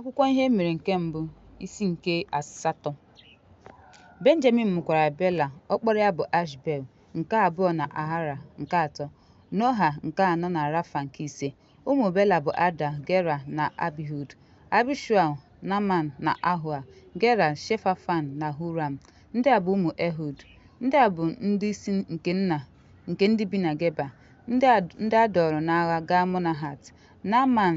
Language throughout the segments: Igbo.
Akwụkwọ Ihe E Mere nke Mbụ, isi nke asatọ. Benjamin mụkwara Bela, ọkpara ya bụ Ashbel, nke abụọ na Ahara, nke atọ, Noha, nke anọ na Rafa, nke ise. Ụmụ Bela bụ Ada, Gera, na Abihud, Abishual, Naman, na Ahua, Gera, Shefafan, na Huram. Ndị a bụ ụmụ Ehud. Ndị a bụ ndị isi nke nna nke ndị bi na Geba, ndị a dọọrọ n'agha gaa Monahat. Naman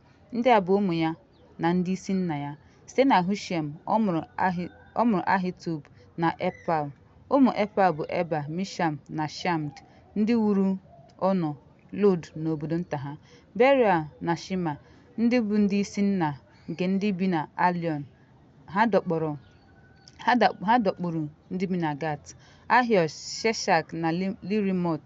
Ndị a bụ ụmụ ya na ndị isi nna ya. Site na Hushem, ọ mụrụ Ahi, ọ mụrụ Ahitub na Epal. Ụmụ Epal bụ Eba, Misham na Shamd, ndị wuru Ono, Lod na obodo nta ha. Beria na Shima, ndị bụ ndị isi nna nke ndị bi na Aliọn, ha dọkpọrọ ha da- ha dọkpụrụ ndị bi na Gat. Ahio, Sheshak na Li- Lirimot,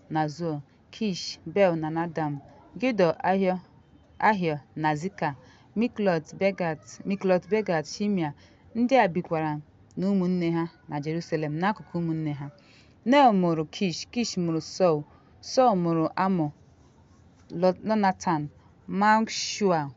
na Zoa, Kish, Bel na Nadam, Gidọ, Ahio, Ahio na Zika, Miklot Begat, Miklot Begat, Shimia. Ndị a bikwara na ụmụnne ha na Jerusalem n'akụkụ ụmụnne ha. Nel mụrụ Kish, Kish mụrụ Sọl, Sọl mụrụ amụ Lo- Lonatan, Malkshua,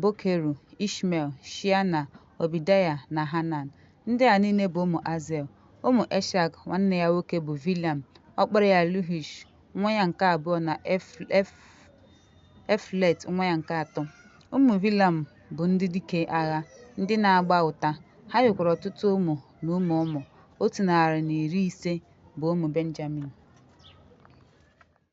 Bokeru, Ishmel, Shia na Ọbidaya na Hanan. Ndị a niile bụ ụmụ Azel. Ụmụ Eshak, nwanne ya nwoke bụ Vilam, ọkpara ya Luhish, nwa ya nke abụọ na Eflet nwa ya nke atọ. Ụmụ Vilam bụ ndị dike agha, ndị na-agba ụta. Ha nwekwara ọtụtụ ụmụ na ụmụ ụmụ. Otu narị na iri ise bụ ụmụ Benjamin.